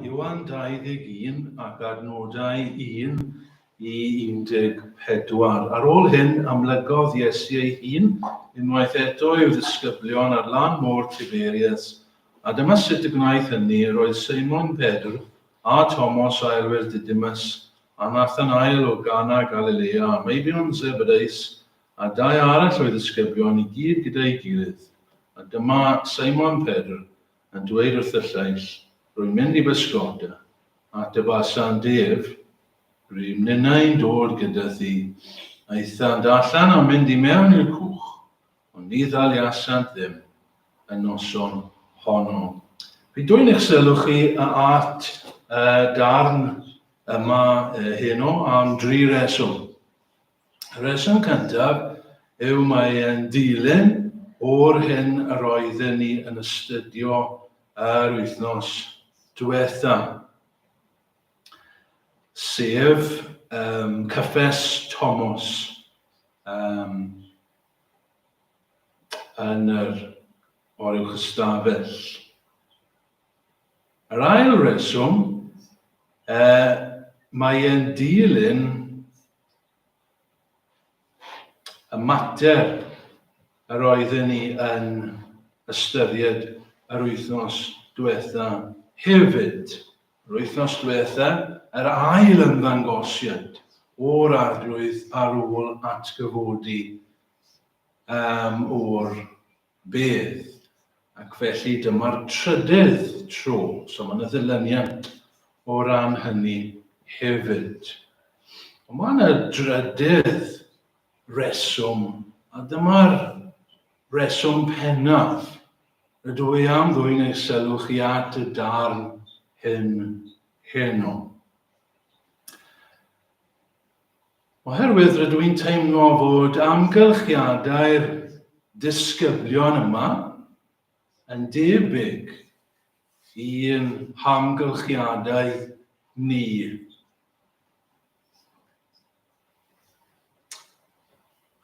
Iwan 21 ac adnodau 1 i 14. Ar ôl hyn, amlygodd Iesu ei hun unwaith eto i'w ddisgyblion ar lan môr Tiberias, a dyma sut y gwnaeth hynny, roedd Seimon Pedr, a Tomos aelwyr Didymus, a Nathanael o Gana Galilea, a meibion Zebedeus, a dau arall o'i ddisgyblion i gyd gyda'i gilydd. A dyma Seimon Pedr, a dweud wrth y lleill, Rwy'n mynd i bysgota, ac dy basant ef, rŷm ninnau'n dod gyda thi. Aethant allan a mynd i mewn i'r cwch, ond ni ddaliasant ddim, y noson honno. Fi dwyn eich sylw chi at y darn yma heno am dri reswm. Y rheswm cyntaf yw mae e'n dilyn o'r hyn yr oedden ni yn astudio yr wythnos diwetha, sef um, cyffes Tomos um, yn yr oruwch ystafell. Yr ail reswm, e, mae e'n dilyn Y mater yr oedden ni yn ystyried yr wythnos diwetha. Hefyd, yr wythnos diwetha, yr ail ymddangosiad o'r Arglwydd ar ôl atgyfodi um, o'r Bydd. Ac felly dyma'r trydydd tro, so mae yna ddilyniant o ran hynny hefyd. Ond mae yna drydydd reswm, a dyma'r reswm pennaf. Rydw i am ddwyn eich sylw chi at y darn hyn heno. Oherwydd rydw i'n teimlo fod amgylchiadau'r disgyblion yma yn debyg i'n hamgylchiadau ni.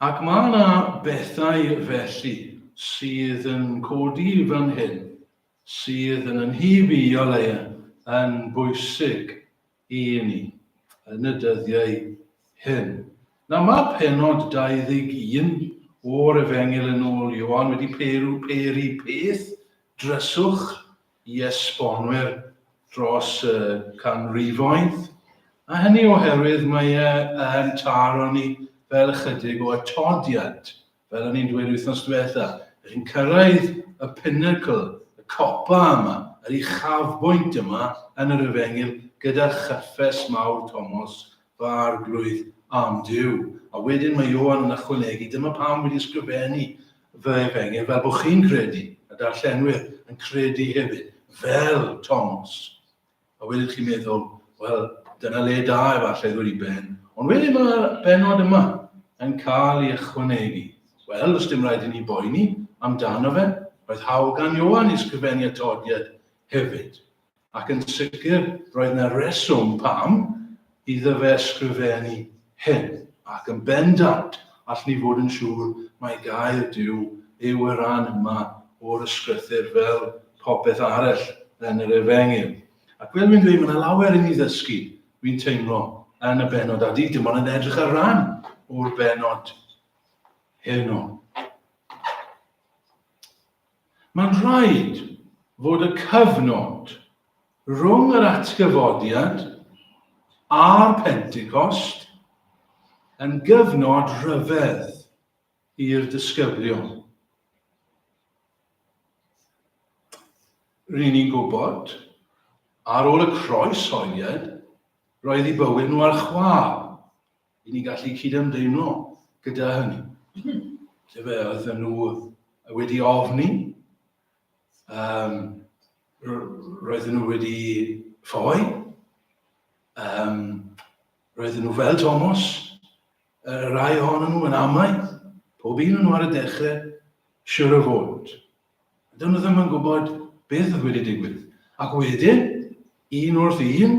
Ac mae yna bethau felly sydd yn codi fan hyn, sydd yn yn hyb i o leia yn bwysig i ni yn y dyddiau hyn. Nawr mae penod 21 o'r Efengyl yn ôl Ioan wedi peru, peru peth dryswch i esbonwyr dros y canrifoedd, a hynny oherwydd mae e yn taro ni fel ychydig o atodiad fel o'n i'n dweud wythnos diwetha, ydych chi'n cyrraedd y pinnacle, y copa yma, yr uchafbwynt yma yn yr efengyl gyda chyffes mawr Tomos, fy Arglwydd, am Duw. A wedyn mae Ioan yn ychwanegu, dyma pam wedi ysgrifennu fy efengyl fel bod chi'n credu, y darllenwyr yn credu hefyd, fel Tomos. A wedyn chi'n meddwl, wel, dyna le da efallai ddod i ben. Ond wedyn mae'r benod yma yn cael ei ychwanegu. Wel, os dim rhaid i ni boeni amdano fe, roedd hawl gan Ioan i sgrifennu atodiad hefyd. Ac yn sicr, roedd na reswm pam Iddo fe ysgrifennu hyn, ac yn bendant all ni fod yn siŵr mai gair Duw yw y rhan yma o'r Ysgrythur fel popeth arell yn yr Efengyl. Ac fel fi'n dweud, mae yna lawer i ni ddysgu, fi'n teimlo, yn y benod, a di dim ond yn edrych ar ran o'r benod heno. Mae'n rhaid fod y cyfnod rhwng yr atgyfodiad a'r Pentecost yn gyfnod rhyfedd i'r disgyblion. Ry'n ni'n gwybod, ar ôl y croes holiad, roedd i bywyd nhw ar chwâl. i ni gallu cyd-ymdeimlo gyda hynny. Lle fe oedd nhw wedi ofni, um, roedden nhw wedi ffoi, um, roedden nhw fel Thomas, y rai ohonyn nhw yn amau, pob un nhw ar y dechrau, siwr o fod. Dyn nhw ddim yn gwybod beth oedd wedi digwydd. Ac wedyn, un wrth un,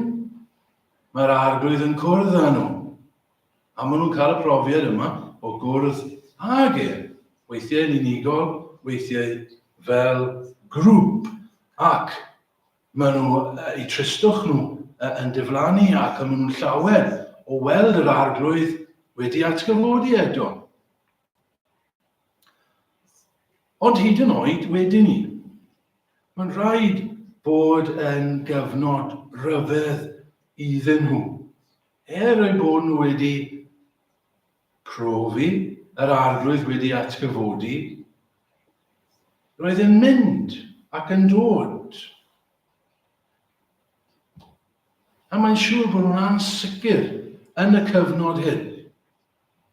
Mae'r Arglwydd yn cwrdd â nhw, a maen nhw'n cael y profiad yma o gwrdd ag e, weithiau yn unigol, weithiau fel grŵp, ac maen nhw, eu tristwch nhw, yn diflannu ac maen nhw'n llawer o weld yr Arglwydd wedi atgyfodi eto. Ond hyd yn oed wedyn ni, mae'n rhaid bod yn gyfnod rhyfedd iddyn nhw, er eu bod nhw wedi profi yr arglwydd wedi atgyfodi, roedd yn mynd ac yn dod. A mae'n siŵr bod nhw'n ansicr yn y cyfnod hyn.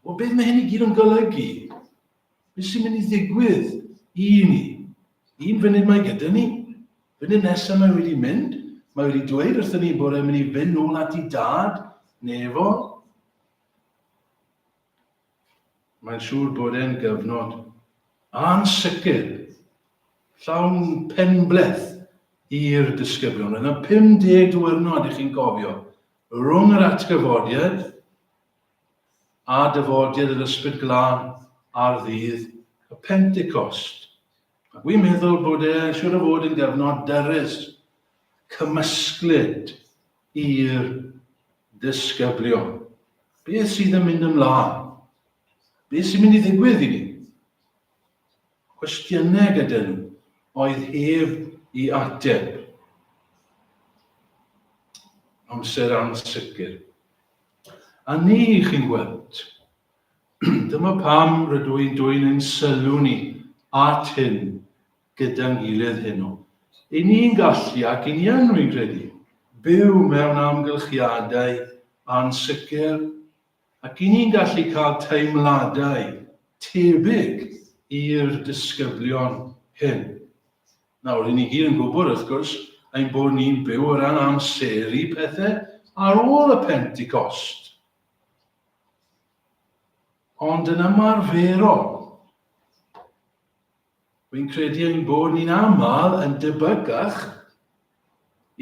O beth mae hyn i gyd yn golygu? Beth sy'n mynd i ddigwydd i ni? Un funud mae gyda ni, funud nesaf mae wedi mynd, mae wedi dweud wrthyn ni bod e'n mynd i fynd nôl at i dad, nefo. Mae'n siŵr bod e'n gyfnod ansicr, llawn penbleth i'r disgyblion. Roedd yna 50 diwrnod i chi'n cofio rhwng yr atgyfodiad a dyfodir yr Ysbryd Glân ar ddydd y Pentecost. Ac wi'n meddwl bod e siwr o fod yn gyfnod dyrus, cymysglyd i'r disgyblion. Beth sydd yn mynd ymlaen? Beth sy'n mynd i ddigwydd i ni? Cwestiynau gyda nhw oedd hef i ateb. Amser ansicr. A ni, chi'n gweld. Dyma pam rydw i'n dwyn ein sylw ni at hyn gyda'n gilydd heno. I ni'n gallu, ac i ni yn, rwy'n credu, byw mewn amgylchiadau ansicr, ac i ni'n gallu cael teimladau tebyg i'r disgyblion hyn. Nawr, ry'n ni gyd yn gwybod, wrth gwrs, ein bod ni'n byw o ran amseru pethau ar ôl y Pentecost. Ond yn ymarferol, Wy'n credu ein bod ni'n aml yn debygach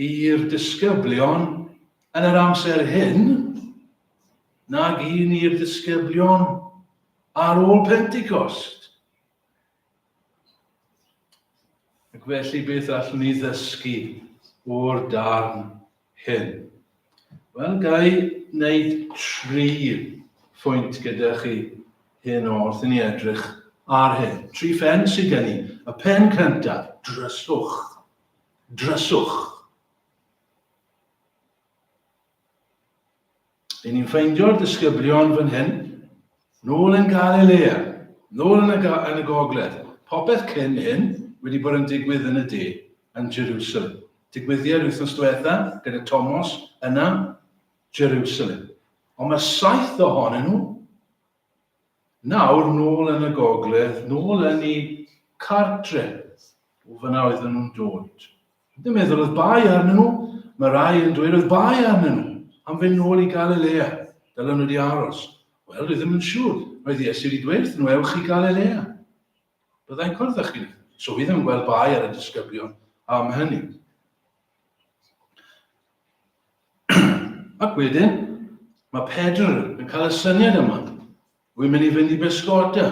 i'r disgyblion yn yr amser hyn nag un i'r disgyblion ar ôl Pentecost. Ac felly beth allwn ni ddysgu o'r darn hyn? Wel, ga i wneud tri phwynt gyda chi hyn o wrth i ni edrych ar hyn. Tri phen sydd gen i. Y pen cyntaf, dryswch. Dryswch. Ry'n ni'n ffeindio'r disgyblion fan hyn, nôl yn Galilea, nôl yn y, yn y gogledd. Popeth cyn hyn wedi bod yn digwydd yn y de, yn Jerusalem. Digwyddiad wythnos diwetha gyda Tomos yna, Jerusalem. Ond mae saith ohonyn nhw nawr nôl yn y gogledd, nôl yn ei cartre. O fyna oedden nhw'n dod. Dwi'n meddwl oedd bai arnyn nhw, mae rai yn dweud oedd bai arnyn nhw am fynd nôl i Galilea, dylen nhw wedi aros. Wel, dwi ddim yn siŵr, roedd Iesu wedi dweud wrthyn nhw, ewch i Galilea. Byddai'n cwrdd â chi. So fi ddim yn gweld bai ar y disgyblion am hynny. Ac wedyn, mae Pedr yn cael y syniad yma. Wi'n mynd i fynd i bysgota.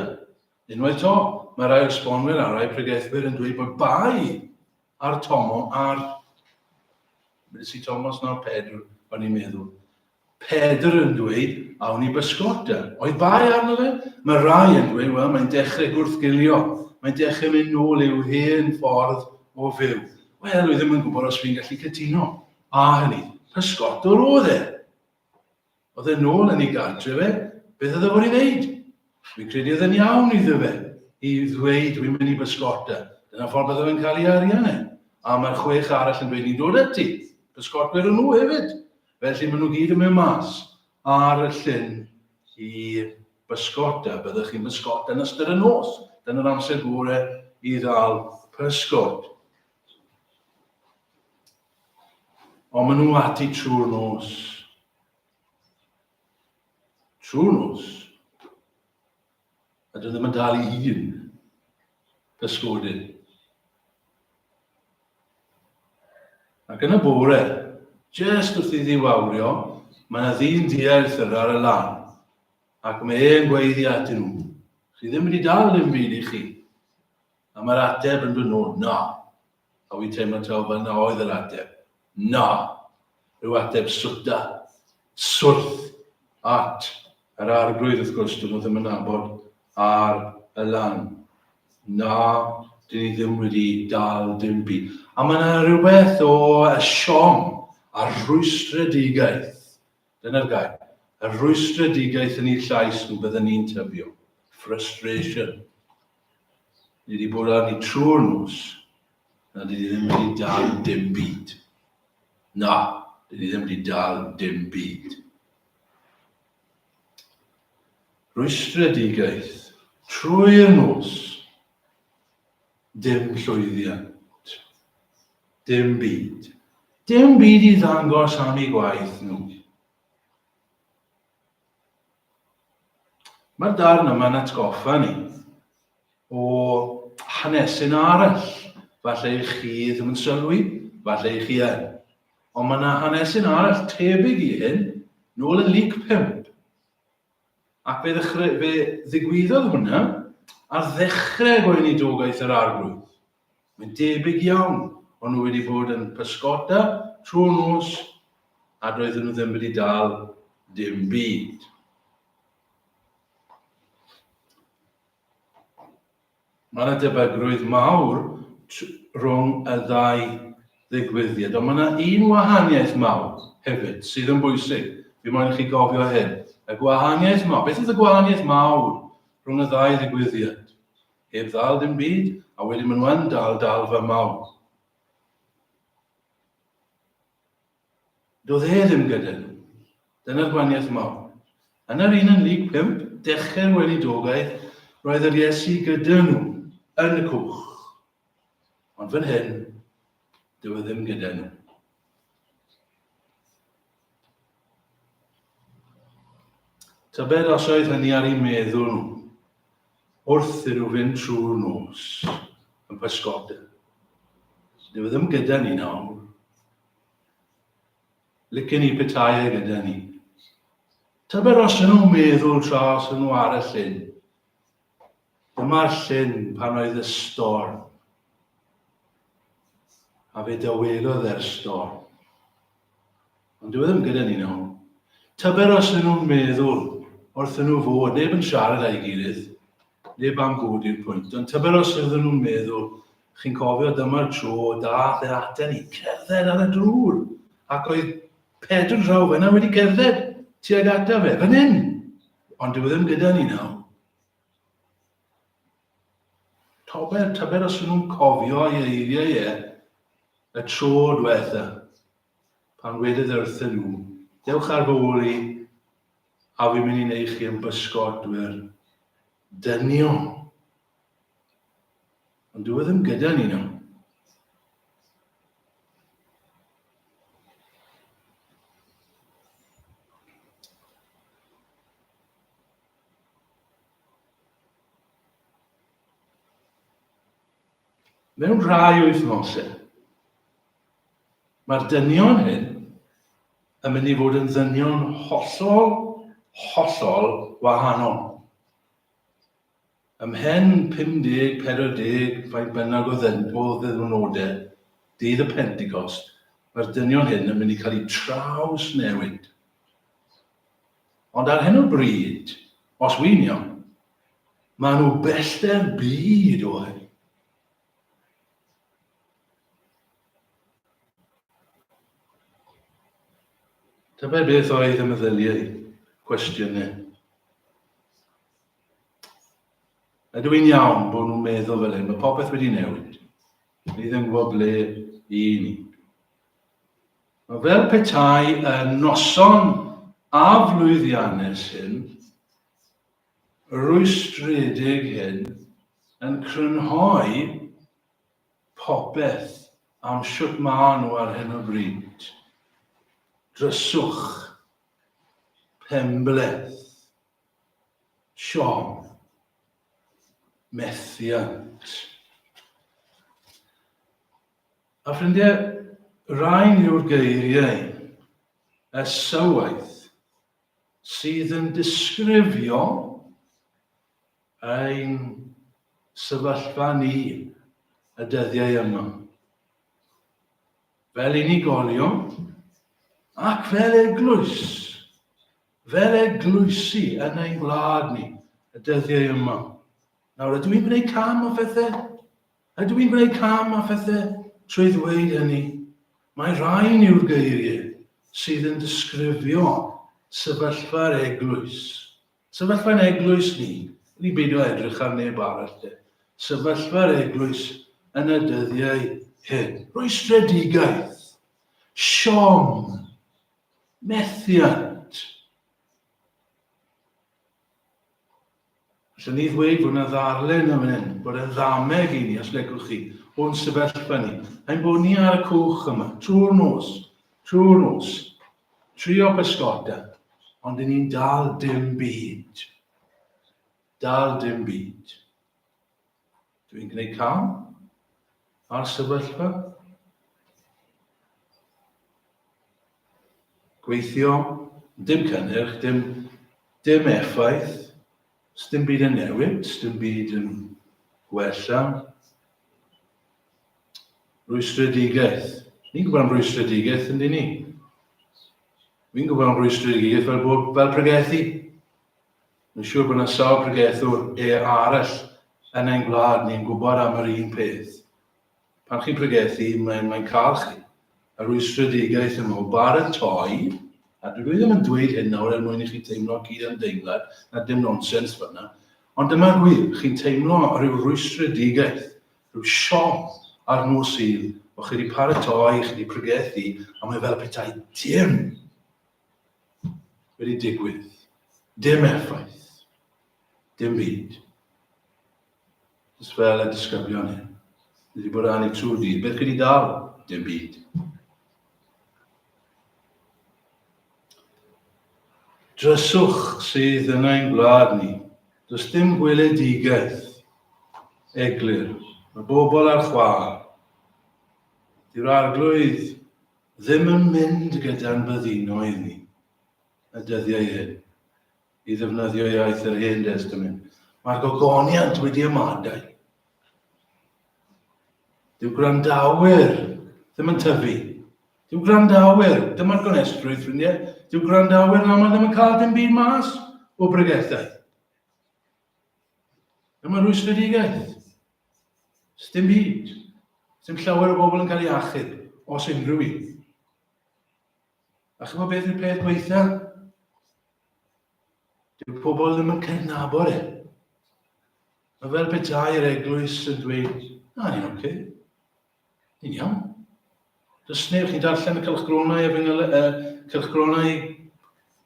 Unwaith to, mae rhai o'r sbonwyr a rhai pregethwyr yn dweud bod bai ar Tomo ar... Be si Tomos nawr? Pedr, o'n i'n meddwl. Pedr yn dweud, awn i bysgota. Oedd bai arno fe? Mae rhai yn dweud, wel, mae'n dechrau gwrthgilio. Mae'n dechrau mynd nôl i'w hen ffordd o fyw. Wel, wy ddim yn gwybod os fi'n gallu cytuno. A hynny, pysgotwr oedd e. Oedd e nôl yn ei gartre fe, beth oedd e fod i ddeud? Fi'n credu oedd e'n iawn iddo fe i ddweud wi'n mynd i bysgota, dyna ffordd bydde fe'n cael ei arian e. A mae'r chwech arall yn dweud ni'n dod ati, pysgotwyr o nhw hefyd. Felly maen nhw gyd yn mynd mas ar y llyn i bysgota, byddwch chi'n bysgota yn ystod y nos, dyna'r amser gore i ddal pysgod. Ond maen nhw ati trwy'r nos. Trwy'r nos. A dyn ddim yn dal i hun. Pysgodyn. Ac yn y bore, jyst wrth i ddiwawrio, mae yna ddyn diarth yr ar y lan. Ac mae e'n gweiddi atyn nhw. Chi ddim wedi dal dim byd i chi. A mae'r ateb yn dod nôl, na. A wi'n teimlo taw fan'na oedd yr ateb. Na! Rhyw ateb swta, swrth, at yr Arglwydd wrth gwrs, dyn nhw ddim yn nabod ar y lan. Na, dyn ni ddim wedi dal dim byd. A mae yna rhywbeth o y siom a'r rhwystredigaeth Dyna'r gair. Yr rhwystredigaeth yn ei llais nhw bydden ni'n tyfio. Frustration. Ni wedi bod arni trwy'r nos, na dydi ddim wedi dal dim byd. Na, dydi ddim wedi dal dim byd. Rwystredigaeth. Trwy'r nos. Dim llwyddiant. Dim byd. Dim byd i ddangos am eu gwaith nhw. Mae'r darn yma'n atgoffa ni o hanesyn arall. Falle i chi ddim yn sylwi, falle i chi yn. Ond mae yna hanesyn arall tebyg i hyn, nôl yn lyc 5. Ac fe ddechre, fe ddigwyddodd hwnna ar ddechrau gweinidogaeth yr Arglwydd. Mae'n debyg iawn, o'n nhw wedi bod yn pysgota trwy'r nos a doedden nhw ddim wedi dal dim byd. Mae yna debygrwydd mawr rhwng y ddau ddigwyddiad, ond mae yna un wahaniaeth mawr hefyd sydd yn bwysig. Fi moyn i chi gofio hyn. Y gwahaniaeth mawr. Beth oedd y gwahaniaeth mawr rhwng y ddau ddigwyddiad? Heb ddal dim byd, a wedyn maen nhw yn dal dalfa mawr. Doedd e ddim gyda nhw. Dyna'r gwaniaeth mawr. Yn yr un yn Lug 5, dechrau'r weinidogaeth, roedd yr Iesu gyda nhw, yn y cwch. Ond fan hyn, dyw e ddim gyda nhw. Tybed os oedd hynny ar ei meddwl nhw. wrth i nhw fynd trwy'r nos yn pysgota. Dwi ddim gyda ni nawr. Lycyn ni petai e gyda ni. Tybed os yn nhw'n meddwl tra os yn nhw ar y llyn. Dyma'r llyn pan oedd y storm. A fe dywelodd e'r storm. Ond dyw e ddim gyda ni nawr. Tybed os ydyn nhw'n meddwl wrthyn nhw fod, neb yn siarad â'i gilydd, neb am fod i'r pwynt, ond tybed os ydyn nhw'n meddwl, chi'n cofio, dyma'r tro dath e aten ni, cerdded ar y drwr, ac oedd Pedr'n draw fyna wedi cerdded tuag ata fe, fan hyn, ond dyw e ddim gyda ni nawr. Tybed, tybed os ydyn nhw'n cofio ei eiriau e, y tro diwetha. pan wedodd e wrthyn nhw, Dewch ar fy ôl i, a fi'n mynd i wneud chi yn bysgotwyr dynion. Ond dyw e ddim gyda ni nawr. Mewn rhai wythnosau, Mae'r dynion hyn yn mynd i fod yn ddynion hollol, hollol wahanol. Ymhen 50, 40, faint bynnag o ddyn, o ddiwrnodau, dydd y Pentecost, mae'r dynion hyn yn mynd i cael eu traws newid. Ond ar hyn o bryd, os wynion, maen nhw bellter byd o hyn. Tybed beth oedd y meddyliau? Cwestiynau. Ydw i'n iawn bod nhw'n meddwl fel hyn? Mae popeth wedi newid. Ni ddim gwybod ble i ni. Mae fel petai y noson aflwyddiannus hyn rwystredig hyn yn crynhoi popeth am shwt maen nhw ar hyn o bryd. Dryswch penbleth siom methiant. A ffrindiau, rhain yw'r geiriau esywaeth sydd yn disgrifio ein sefyllfa ni y dyddiau yma. Fel unigolion ac fel eglwys, fel eglwysi yn ein gwlad ni y dyddiau yma. Nawr, ydw i'n gwneud cam o phethau? Ydw i'n gwneud cam a phethe trwy ddweud hynny? Mae rhain yw'r geiriau sydd yn disgrifio sefyllfa'r eglwys. Sefyllfa'n eglwys ni, i ni beidio edrych ar neb arall de, sefyllfa'r eglwys yn y dyddiau hyn. Rwystredigaeth, siom, methiant. Allwn ni ddweud bod yna ddarllen yn fan hyn, bod e'n ddameg i ni, os legwch chi, o'n sefyllfa ni. Ein bod ni ar y cwch yma, trwy'r nos, trwy'r nos, trio pysgota, ond i ni'n dal dim byd. Dal dim byd. Dw i'n gwneud cam ar sefyllfa gweithio, dim cynnyrch, dim, dim effaith, dim byd yn newid, dim byd yn gwella. Rwystredigaeth. Ni'n gwybod am rwystredigaeth, yndyn ni? Fi'n gwybod am rwystredigaeth fel, fel pregethu. Mae'n siŵr bod yna sawl pregethwr arall yn ein gwlad ni'n gwybod am yr un peth. Pan chi'n pregethu, mae'n mae cael chi. A rwystredigaeth yn meddwl, baratoi, a dwi ddim yn dweud hyn nawr er mwyn i chi teimlo cyd ymdeimlad, na dim nonsens fyna, ond dyma'r gwir, chi'n teimlo rhyw rwystredigaeth, rhyw siom ar nos sydd, o chi wedi paratoi, chi wedi pregethu, a mae fel petai dim wedi digwydd. Dim effaith. Dim byd. Just fel y disgyblion hyn. Ni wedi bod â ni trwy dydd. Beth gyda dal? Dim byd. Dryswch sydd yn ein gwlad ni. Does dim gweledigaeth eglur. Mae bobl ar chwâl. Di'r arglwydd Ddim yn mynd gyda'n byddinoedd ni y dyddiau hyn i ddefnyddio iaith yr Hen Destament. Mae'r gogoniant wedi ymadael. Dyw gwrandawyr ddim yn tyfu. Dyw gwrandawyr, dyma'r gonestrwydd, ffrindiau, dyw gwrandawyr yn aml ddim yn cael dim byd mas o bregethau. Dyma mae rhwystredigaeth. Sdim byd. Sdim llawer o bobl yn cael ei achub, os unrhyw un. A chymod beth yw'r peth gweitha? Dyw pobl ddim yn cydnabod e. Mae fel petai'r eglwys yn dweud, na, ni'n oce. Okay. Yn iawn. Does neb chi'n darllen y cylchgronau efengyl, uh, cylchgronau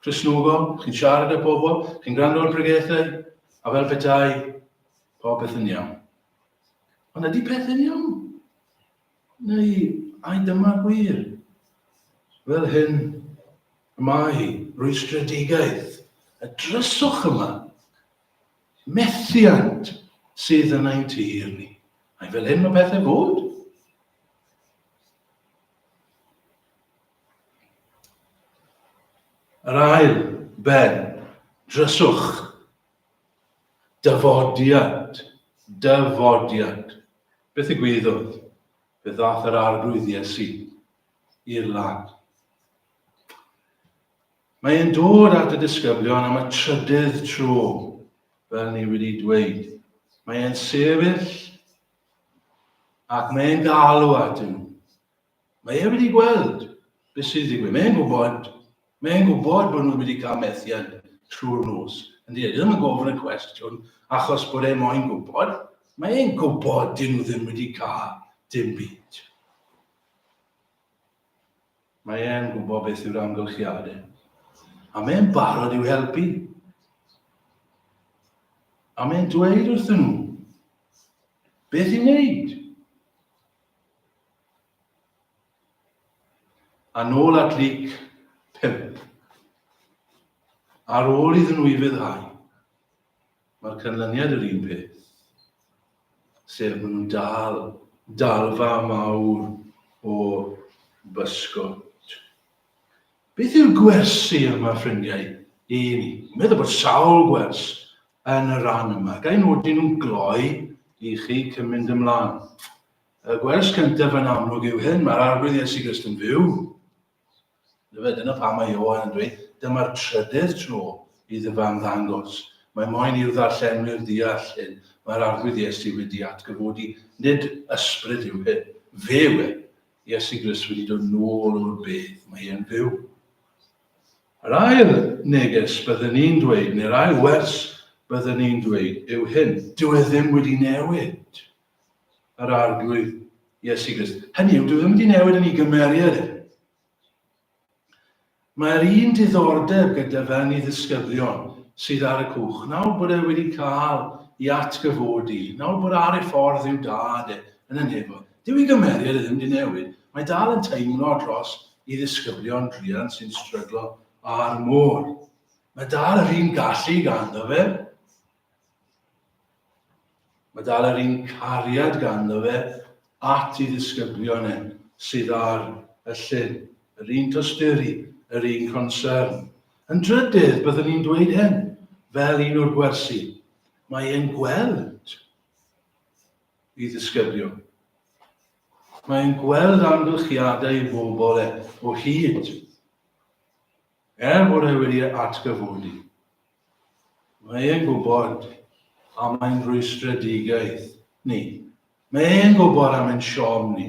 Cresnogol, chi'n siarad â pobl, chi'n gwrando ar bregethau, a fel petai, popeth yn iawn. Ond ydy peth yn iawn? Neu, ai dyma gwir? Fel hyn, y mae rwystredigaeth, y dryswch yma, methiant sydd yn ein tir ni. Mae fel hyn mae pethau fod. Yr ail ben, dryswch, dyfodiad, dyfodiad. Beth y gwyddodd? Fe ddath yr arglwydd Iesu i'r lan. Mae e'n dod at y disgyblion am y trydydd tro, fel ni wedi dweud. Mae e'n sefyll ac mae e'n galw at nhw. Mae e wedi gweld beth sy'n digwydd. Mae e'n gwybod, mae e'n gwybod bod nhw wedi cael methiant trwy'r nos. Yndi, e, ddim yn gofyn y cwestiwn achos bod e moyn gwybod. Mae e'n gwybod dyn nhw ddim wedi cael dim byd. Mae e'n gwybod beth yw'r amgylchiadau. A mae'n barod i'w helpu. A mae'n dweud wrthyn nhw beth i wneud. A nôl at Luc 5. Ar ôl iddyn nhw i fyddhau, Mae'r canlyniad yr un peth, sef maen nhw'n dal dalfa mawr o bysgod. Beth yw'r gwersi yma, ffrindiau, i ni? Meddwl bod sawl gwers yn y rhan yma. Gai nodi nhw'n gloi i chi cyn mynd ymlaen. Y gwers cyntaf yn amlwg yw hyn, mae'r Arglwydd Iesu Grist yn fyw. Efe, dyna pam mae Ioan yn dweud, dyma'r trydydd tro i dy fam ddangos. Mae moyn i'w ddarllenwyr ddeall hyn, mae'r Arglwydd Iesu wedi atgyfodi, nid ysbryd yw hyn, fe yw e. Iesu Grist wedi dod nôl o'r bedd, mae e'n fyw. Yr ail neges byddwn ni'n dweud, neu'r ail wers byddwn ni'n dweud, yw hyn, dyw e ddim wedi newid. yr Arglwydd Iesu Grist. Hynny yw, dwi ddim wedi newid yn ei gymeriad e. Mae'r un diddordeb gyda fe yn ei ddisgyblion sydd ar y cwch, nawr bod e wedi cael i atgyfodi, nawr bod ar ei ffordd i'w dad e yn y nefo. Dyw ei gymeriad e ddim wedi newid, mae dal yn teimlo dros i ddisgyblion druan sy'n stryglo ar môr. Mae dal yr un gallu ganddo fe, Mae dal yr un cariad ganddo fe at ei ddisgyblion e, sydd ar y llyn, yr un tosturi, yr un concern. Yn drydydd, byddwn i'n dweud hyn, fel un o'r gwersi, mae e'n gweld i ddisgyblion. Mae e'n gweld amgylchiadau i bobl e o hyd, er bod e wedi atgyfodi. Mae e'n gwybod am ein rwystredigaeth ni. Mae e'n gwybod am ein siom ni.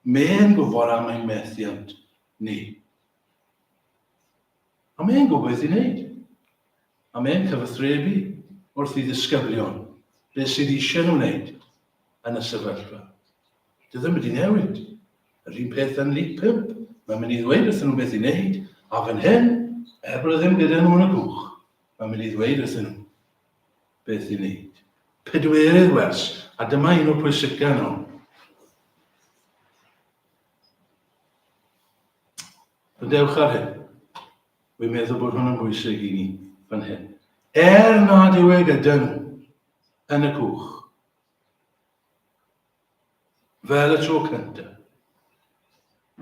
Mae e'n gwybod am ein methiant ni. A mae e'n gwybod beth i wneud. A mae e'n cyfathrebu wrth i ddisgyblion beth sydd eisiau nhw wneud yn y sefyllfa. Dio ddim wedi newid. Yr un peth yn League Pump, mae'n mynd i ddweud wrthyn nhw beth i wneud, a fan hyn, er bod e ddim gyda nhw yn y cwch, mae'n mynd i ddweud wrthyn nhw beth i wneud. Pedwerydd wers, a dyma un o pwysica nhw. Rydewch ar hyn. Wy'n meddwl bod hwn yn bwysig i ni fan hyn. Er nad yw e gyda nhw yn y cwch, fel y tro cynta.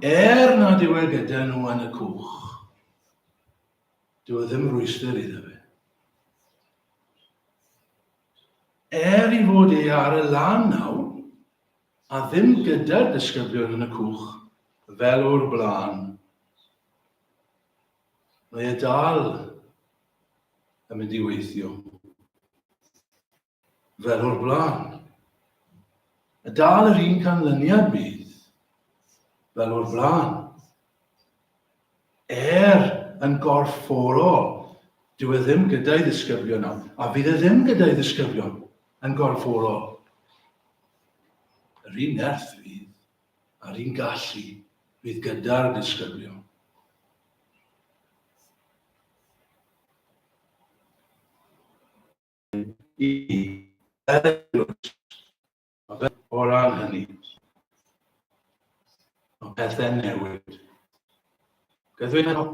Er nad yw e gyda nhw yn y cwch, dyw e ddim rwyster iddo fe. Er i fod e ar y lan nawr, a ddim gyda'r disgyblion yn y cwch, fel o'r blaen, mae e dal yn mynd i weithio. fel o'r blaen. A dal yr un canlyniad bydd fel o'r blaen. Er yn gorfforol, dyw e ddim gyda'i ddisgyblion nawr, a fydd e ddim gyda'i ddisgyblion yn gorfforol. Yr un nerth fydd, a'r un gallu fydd gyda'r disgyblion. i o ran hynny. Mae pethau'n newid. Gydwyd hynny.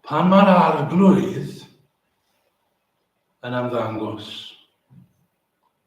Pan mae'r arglwydd yn ymddangos,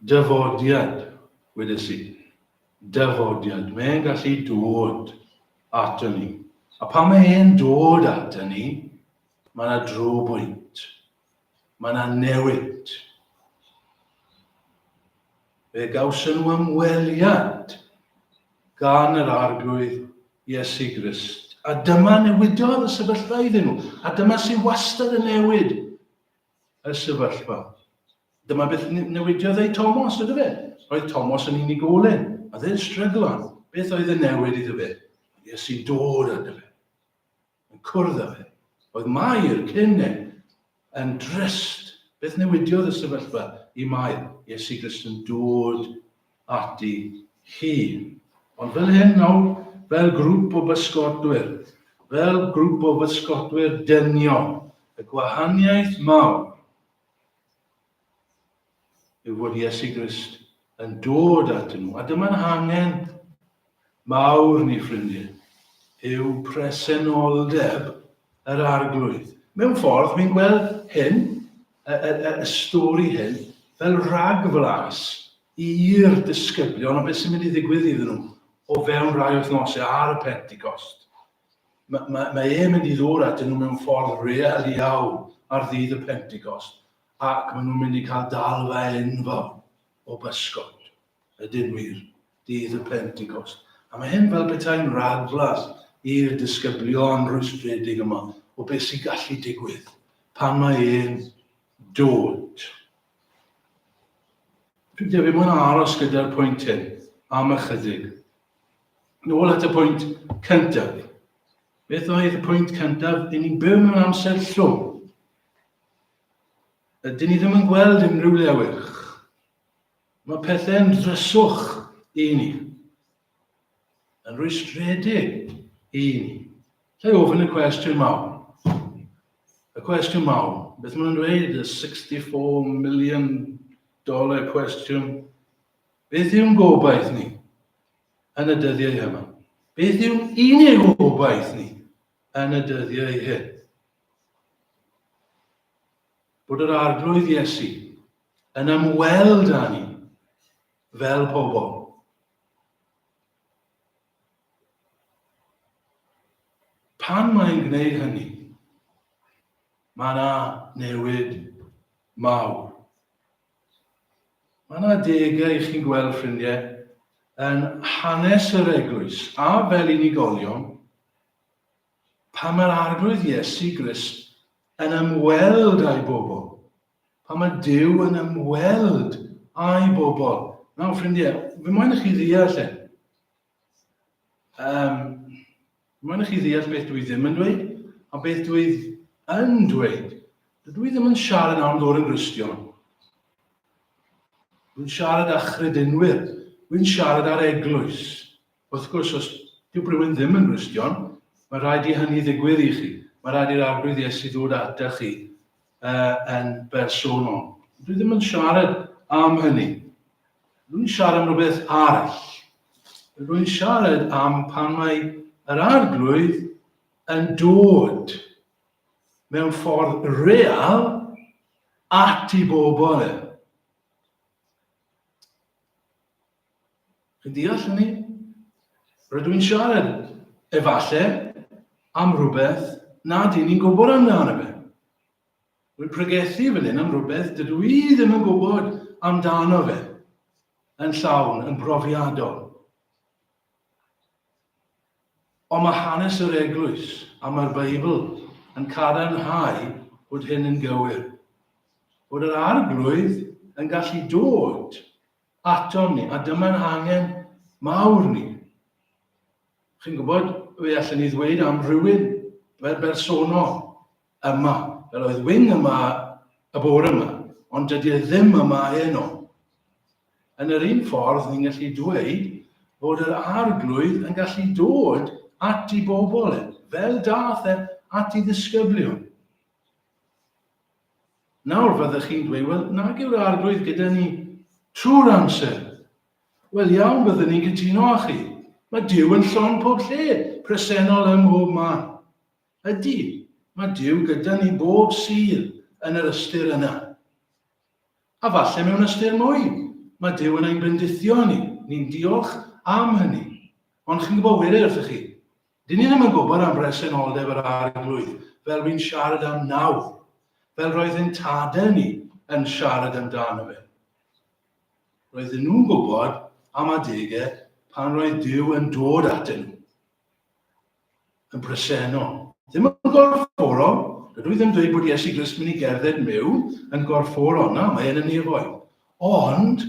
Dafodiad, wedes i. Dafodiad. Mae'n gallu dod ato ni. A pan mae e'n dod ato ni, mae yna drobwynt. Mae yna newid. Fe gawson nhw ymweliad gan yr arglwydd Iesu Grist. A dyma newidodd y sefyllfa iddyn nhw. A dyma sy'n wastad yn newid. y sefyllfa. Dyma beth newidiodd ei Tomos, ydy fe? Roedd Tomos yn unigolyn, a dde'n stryglan. Beth oedd y newid iddo fe? Iesu'n dod â fe, yn cwrdd â fe. Oedd Mair cyn e yn drist. Beth newidiodd y sefyllfa i Mair? Iesu Grist yn dod ati hi. Ond fel hyn nawr, fel grŵp o bysgotwyr, fel grŵp o fysgotwyr dynion, y gwahaniaeth mawr yw fod Iesu Grist yn dod atyn nhw. A dyma'n hangen mawr ni ffrindie, yw presenoldeb yr Arglwydd. Mewn ffordd, wi'n gweld hyn, y, y, y, y stori hyn, fel rhagflas i'r disgyblion o beth sy'n mynd i ddigwydd iddyn nhw o fewn rhai wythnosau ar y Pentecost mae, mae, mae e'n mynd i ddod at nhw mewn ffordd real iawn ar ddydd y Pentecost, ac maen nhw'n mynd i cael dalfa enfawr o bysgod. Ydyn wir. Dydd y Pentecost. A mae hyn fel petai'n ragflas i'r disgyblion rwystredig yma o beth sy'n gallu digwydd pan mae e'n dod. Dwi'n credu bod yn aros gyda'r pwynt hyn am ychydig. Nôl at y pwynt cyntaf. Beth oedd y pwynt cyntaf? Dyn ni'n byw mewn amser llwm. Dyn ni ddim yn gweld unrhyw lewych. Mae pethau'n dryswch i ni, yn rwystredig i ni. Lle ofyn y cwestiwn mawr. Y cwestiwn mawr, beth maen nhw'n dweud, y 64 million dollar cwestiwn. Beth yw'n gobaith ni yn y dyddiau yma? Beth yw'n unig gobaith ni yn y dyddiau hyn? Bod yr arglwydd Iesu yn ymweld â ni fel pobl. Pan mae'n gwneud hynny, mae yna newid mawr. Mae yna degau i chi'n gweld ffrindiau yn hanes yr eglwys a fel unigolion pan mae'r arglwydd Iesu Grist yn ymweld â'i bobl Pan mae Duw yn ymweld â'i bobl. Nawr, ffrindiau, fy moyn i chi ddeall hyn. Um, fy moyn i chi ddeall beth dwi ddim yn dweud, a beth dwi yn dweud. Dwi ddim yn siarad am ddod yn gristion. Dwi'n siarad â chredinwyr. Dwi'n siarad â'r eglwys. Wrth gwrs, os dyw rhywun ddim yn Gristion, mae'n rhaid i hynny ddigwydd i chi. Mae'n rhaid i'r arglwydd Iesu ddod ata chi uh, yn bersonol. Dwi ddim yn siarad am hynny. Rwy'n siarad am rhywbeth arall. Rwy'n siarad am pan mae yr arglwydd yn dod mewn ffordd real at i bobl e. Chi'n deall hynny? Rydw i'n siarad, efallai, am rhywbeth nad y'n ni'n gwybod amdano fe. Rwy'n pregethu fel hyn am rhywbeth dydw i ddim yn gwybod amdano fe yn llawn, yn brofiadol. Ond mae hanes yr eglwys a mae'r Beibl yn cadarnhau bod hyn yn gywir. Bod yr arglwydd yn gallu dod atom ni, a dyma'n angen mawr ni. Chi'n gwybod, fe allen ni ddweud am rywun fel bersonol yma, fel oedd Wing yma y bore yma, ond dydy e ddim yma heno. Yn yr un ffordd, ni'n gallu dweud bod yr arglwydd yn gallu dod at i bobl e, fel dath e at i ddisgyblion. Nawr fyddech chi'n dweud, wel, nag yw'r Arglwydd gyda ni trwy'r amser. Wel iawn, byddwn ni'n cytuno â chi. Mae Dyw yn llon pob lle, presennol ym mhob man. Ydy, mae Dyw gyda ni bob sydd yn yr ystyr yna. A falle mewn ystyr mwy, mae Dyw yn ein bendithio ni, ni'n diolch am hynny. Ond chi'n gwybod wir wrthych chi, Dyn ni ddim yn gwybod am bresenoldeb yr Arglwydd, fel rwy'n siarad am nawr, fel roedd ein tadau ni yn siarad amdano fe. Roedden nhw'n gwybod am adegau pan roedd Duw yn dod atyn nhw, yn bresennol. Ddim yn gorfforol, dydw i ddim dweud bod Iesu Grist mynd i gerdded mewn yn gorfforol, na, mae e'n y nefoedd. Ond,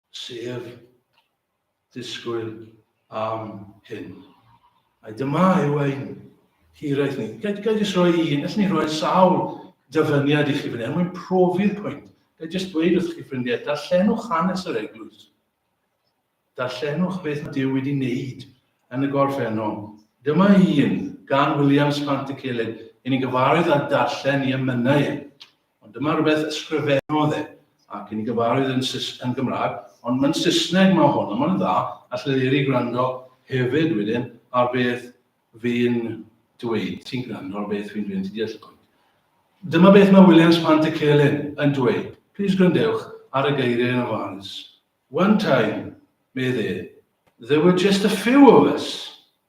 sef disgwyl am hyn. A dyma yw ein hiraeth ni. Ga i jyst rhoi un, allwn ni roi sawl dyfyniad i chi fan hyn, mwyn profi'r pwynt. Ga i jyst dweud wrth chi ffrindiau, darllenwch hanes yr eglwys. Darllenwch beth mae Dyw wedi wneud yn y gorffennol. Dyma un gan Williams Pant y Celyn, yn ei gyfarwydd â darllen i emynau e. Ond dyma rywbeth ysgrifennodd e, ac yn gyfarwydd yn Sus- yn Gymraeg, ond mae'n Saesneg mae hwn, a mae'n dda, alle Leri gwrando hefyd wedyn ar beth fi'n dweud, ti'n gwrando ar beth fi'n dweud, ti'n deall y pwynt. Dyma beth mae Williams Pant y Celyn yn dweud, plis gwrandewch ar y geiriau yn ofalus. One time, medd e, there were just a few of us.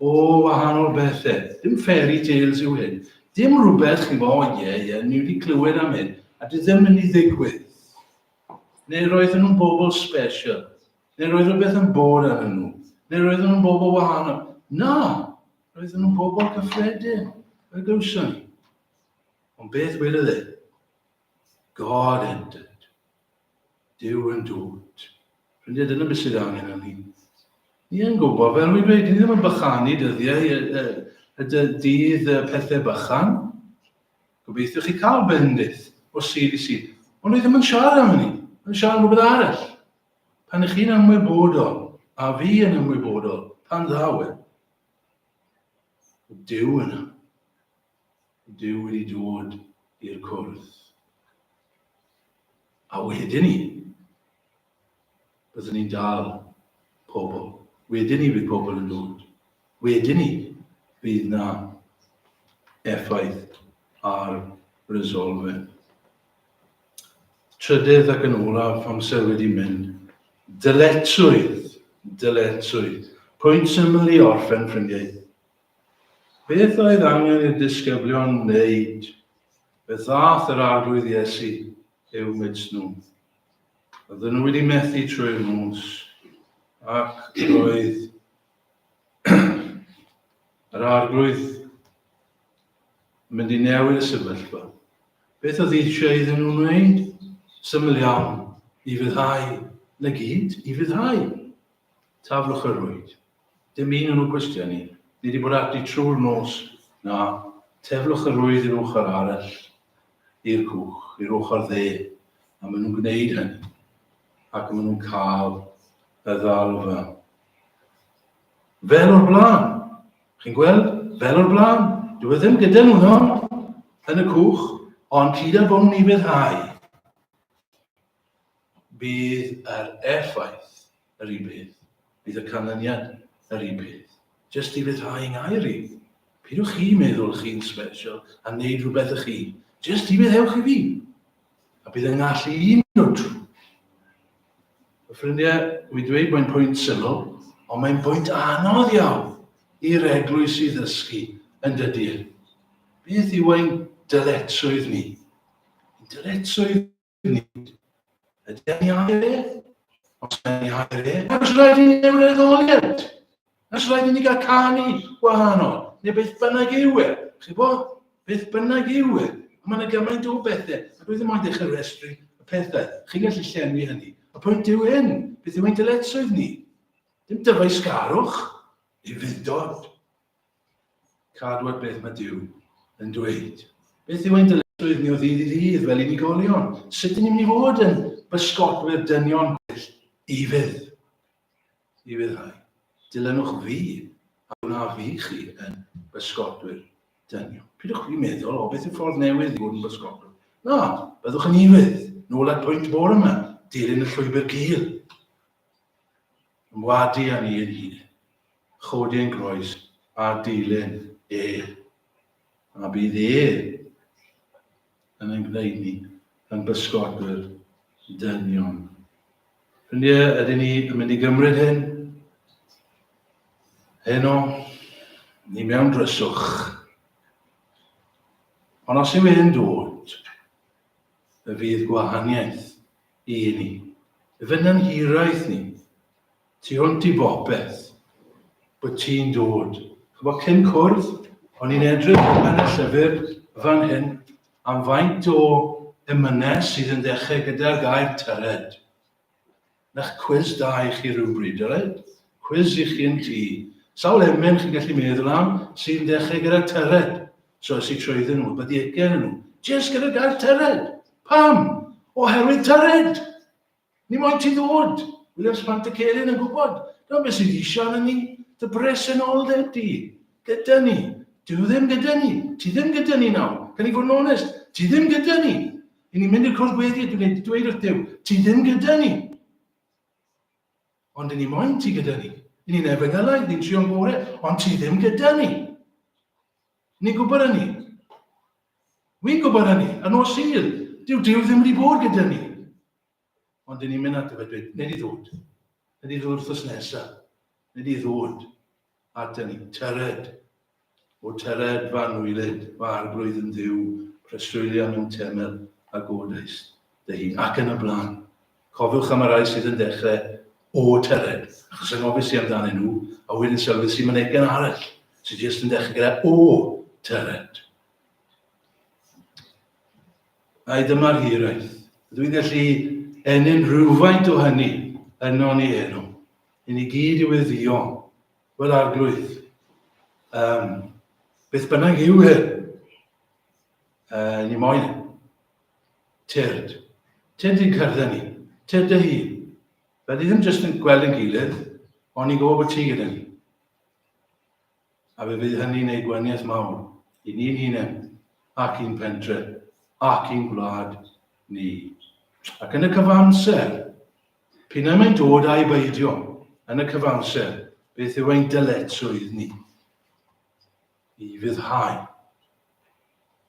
O, wahanol bethe. Dim fairy tales yw hyn. Dim rhywbeth, chi'n bo, ie, ie, ni wedi clywed am hyn, a di ddim mynd i ddigwydd. Neu roedden nhw'n bobl special. Neu roedd rhywbeth yn bod ar nhw. Neu roedden nhw'n bobl wahanol. Na, roedden nhw'n bobl cyffredin. Fe gawson ni. Ond beth wedodd e? God entered. Duw yn dwt. Ffrindiau, dyna beth sydd angen yn ni. Ni yn gwybod, fel rwy'n dweud, ni ddim yn bychanu dyddiau y, y, y dydd y pethau bychan. Gobeithio chi cael bendith o sydd i sydd. Ond ni ddim yn siarad am hynny. Mae'n siarad am rhywbeth arall. Pan ych chi'n ymwybodol, a fi yn ymwybodol, pan ddaw e. Dyw yna. Duw wedi dod i'r cwrdd. A wedyn ni, byddwn ni'n dal pobl. Wedyn ni bydd pobl yn dod. Wedyn ni bydd na effaith ar resolfyn. Trydydd ac yn olaf, amser wedi mynd. Dyletswydd, dyletswydd. Pwynt syml i orffen, ffrindiau. Beth oedd angen i'r disgyblion wneud? Beth ddaeth yr Arglwydd Iesu eu mids nhw? Oedden nhw wedi methu trwy'r nos, ac roedd yr Arglwydd yn mynd i newid y sefyllfa. Beth oedd eisiau iddyn nhw wneud? Syml iawn, i fyddhau, na gyd, i fyddhau. Taflwch y rwyd. Dim un o'n nhw gwestiwn i. Ni 'di bod ati trwy'r nos, na. Teflwch y rwydd i'r ochr arall i'r cwch, i'r ochr dde, a maen nhw'n gwneud hynny. Ac maen nhw'n cael y ddalfa. Fel o'r blaen! Chi'n gweld? Fel o'r blaen! Dwi e ddim gyda nhw nawr yn y cwch, ond hyd a bod nhw'n ei fedhau. Bydd yr effaith yr un peth, bydd y canlyniad yr un peth. Jyst i ryddhau yng ngair i, peidiwch chi meddwl chi'n sbesial a wneud rhywbeth ych hun, jyst i meddewch i fi, a bydd yng ngallu i un o drwy. Fy ffrindiau, mi dweud mae'n pwynt syml, ond mae'n pwynt anodd iawn i'r eglwys i ddysgu yn dydy e. Beth yw ein dyletswydd ni? Ein dyletswydd Nid. Ydy e'n iau e? Os mae'n iau e, os rhaid i ni newid etholiad. Os rhaid i ni gael canu gwahanol, neu beth bynnag yw e. Chi'n bod? Beth bynnag yw e. Mae yna gymaint o bethau, a dwi ddim ond eich restru y pethau. Chi'n gallu llenwi hynny. Y pwynt yw hyn, beth yw ein dyletswydd ni? Dim dyfais garwch, i fyndod. Cadw at beth mae Duw yn dweud. Beth yw ein dyletswydd ni o ddydd i ddydd fel unigolion? Sut ydym ni'n mynd i fod yn bysgotwyr dynion gwell i fydd? I fyddhau. Dilynwch fi a gwna fi chi yn bysgotwyr dynion. Pidwch chi meddwl, o beth yw ffordd newydd i fod yn bysgotwyr? Na, byddwch yn i fydd. Nôl at pwynt bore yma, dilyn y llwybr cil. Yn wadu â ni yn hir. Chodi ein groes ar dilyn E. A bydd E yn ein gwneud ni yn bysgodwyr dynion. Ffrindiau, ydyn ni yn mynd i gymryd hyn? Heno, ni mewn dryswch. Ond os yw e'n dod, y fydd gwahaniaeth I ni. Efe na'n hiraeth ni. Ti hwnt i bopeth. Bod ti'n dod. Ch'bo' cyn cwrdd, o'n i'n edrych yn y llyfr fan hyn am faint o emynau sydd yn dechrau gyda'r gair tyred. Na'ch cwis da i chi rywbryd, alright? Cwis i chi yn tŷ. Sawl emyn chi'n gallu meddwl am sy'n dechrau gyda tyred? So es i trwyddyn nhw, wedi ugen nhw, jyst gyda gair tyred. Pam? Oherwydd tyred! Ni moyn ti ddod! Williams Pant y Celyn yn gwybod, dyna beth sy'n eisiau arno ni, dy bresenoldeb di, gyda ni. Dwi ddim gyda ni, ti ddim gyda ni nawr. Can i fod yn onest, ti ddim gyda ni. I ni'n mynd i'r cwrs gweddi, dwi'n ei dweud wrth Dyw, ti ddim gyda ni. Ond i ni moyn ti gyda ni. I ni'n efengylau, ni'n trio'n gore, ond ti ddim gyda ni. Ni'n gwybod hynny. Wi'n gwybod hynny. Yn nos sydd, dyw Dyw ddim wedi bod gyda ni. Ond dyn ni'n mynd at y fe dweud, nid i ddod. Nid i ddod wrthos nesaf. Nid i ddod at ni. Tyred. O tyred fa nwylid, fa arglwydd yn ddiw, preswylion yn temel, a godaist dy hun, ac yn y blaen. Cofiwch am y rhai sydd yn dechrau o tyred, achos angofis i amdanyn nhw, a wedyn sylwis i mynegion arall sydd jyst yn dechrau gyda o tyred. Ai dyma'r hiraeth? Ydw i'n gallu ennyn rhywfaint o hynny yno ni heno? I ni gyd i weddio, fel arglwydd. Um, beth bynnag yw hyn? Uh, ni moyn. Tyrd. Tyrd i'n cyrddau ni. Tyrd dy hun. Fel ni ddim jyst yn gweld yn gilydd, ond ni'n gwybod bod ti gyda ni. A fe fydd hynny'n gwneud gwaniaeth mawr i ni'n hunain, ac i'n pentre, ac i'n gwlad ni. Ac yn y cyfamser, p'un na mae'n dod a'i beidio, yn y cyfamser, beth yw ein dyletswydd ni? I ryddhau.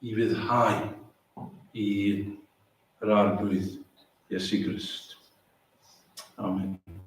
I ryddhau i yr Arglwydd Iesu Grist. Amen.